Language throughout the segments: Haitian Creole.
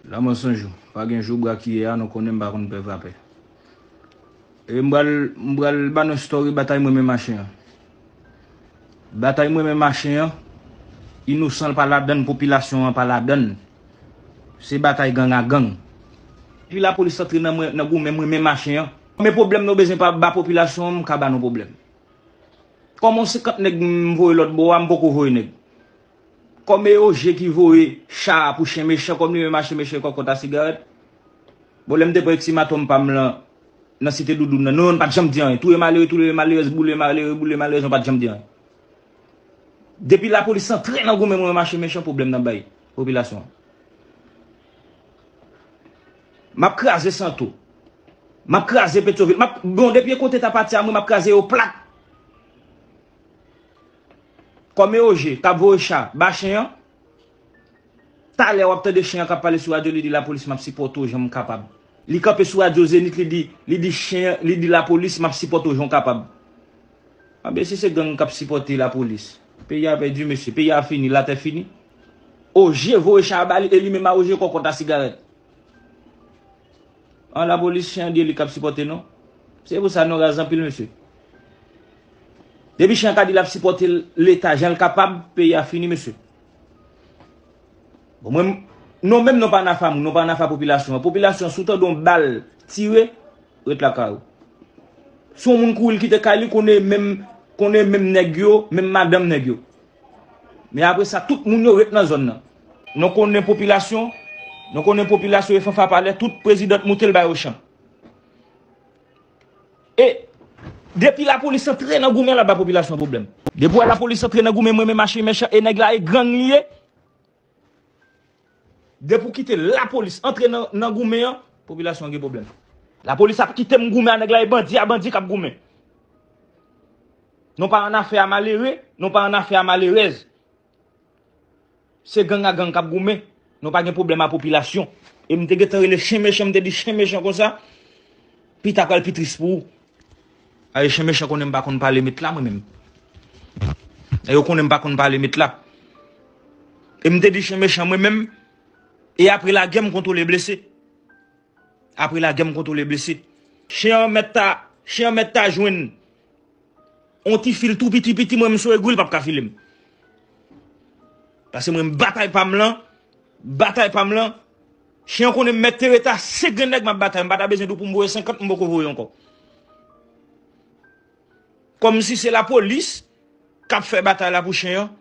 La mò san jou. Pa gen jou bra kiyè a nou konnen m pa konn pè vapè. E m pral m pral ba nou story batay mwen men machin an. Batay mwen men machin an inosan l pa ladan l popilasyon an pa ladan l. Se batay gang a gang. Depi lapolis antre nan mwen nan goumen mwen men machin an. Konbyen pwoblèm nou bezwen pa ba popilasyon an m ka ba nou pwoblèm. Kòman 50 nèg m voye lòt bò a m poko voye nèg. Kòm e yo je ki voye cha a pou chen mechan kòm li menm achte mechan kòkòt a sigarèt. Bon lè m te pran eksimatom pa m lan nan site Doudoun nan nou menm pat janm di anyen. Touye malere toulere malerèz boule malere boule malerèz nou pat janm di anyen. Depi lapolis antre nan goumen mwen menm achte mechan pwoblèm nan bay popilasyon an. M ap kraze Santo. M ap kraze Petyovil. M ap bon depi Ekoteta pati a mwen m ap kraze yo plat. Kòmè Ogé kap voye cha ba chen an Talè wap tande chen an kap pale sou radyo li di lapolis map sipòte w jan m kapab Li kanpe sou radyo Zenith li di li di chen an li di lapolis map sipòte w jan w kapab Anben si se gang kap sipòte lapolis Peyi a pèdi mesye Peyi a fini Latè fini Ogé voye cha a ba li e li menm a Ogé kòkòt a sigarèt An lapolis chen an di e li kap sipòte nou Se pou sa nou raz anpil mesye. Depi chan ka di lap sipòte leta janl kapab peyi a fini mesye. Bon mwen non menm non pa nafa moun non pa nafa popilasyon an popilasyon an si w tande yon bal tire ret lakay ou. Si yon moun kouri l kite kay li konnen e menm konnen e menm nèg yo menm madanm nèg yo. Men apre sa tout moun yo ret nan zòn nan. Non konnen popilasyon non konnen popilasyon e fanfa pale tout prezidan t moute l ba yo chan. E Depi la police antre nan goumen lap bay population problem. Depi wè la police antre nan goumen mwen menm achi mechan e neg la e gang li ye. Depi w kite la police antre nan goumen an population an gen problem. La police ap kite m goumen a neg la e bandi a bandi kap goumen. Nou pa an afe a malere, nou pa an afe a malerez. Se gang a gang kap goumen. Nou pa gen pwoblèm a popilasyon. E m te gentan rele chen mechan m te di chen mechan konsa pita pral pi tris pou ou. Ae chen mechan konnen m pa konn pale met la mwen menm. E yo konnen m pa konn pale met la. E m te di chen mechan mwen menm e apre lagè m kontwole blese. Apre lagè m kontwole blese. Chen an mèt ta chen an mèt ta jwenn. On ti fil tou piti piti mwen m sou egwi l pap ka file m. Pase mwen m batay pa m lan, batay pa m lan, chen an konnen m mèt tereta, se gen nèg m ap batay m pa ta bezwen di w pou m voye 50 m poko voye ankò. Kòm si se lapolis k ap fè batay la pou chen an,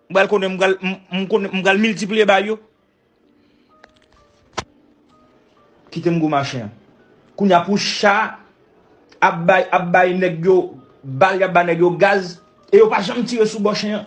m pral konnen m pral m konnen m pral miltipliye ba yo. Kitem gou machin an. Kounya pou cha ap bay ap bay nèg yo bal yap bay nèg yo gaz e yo pa janm tire sou bò chen an.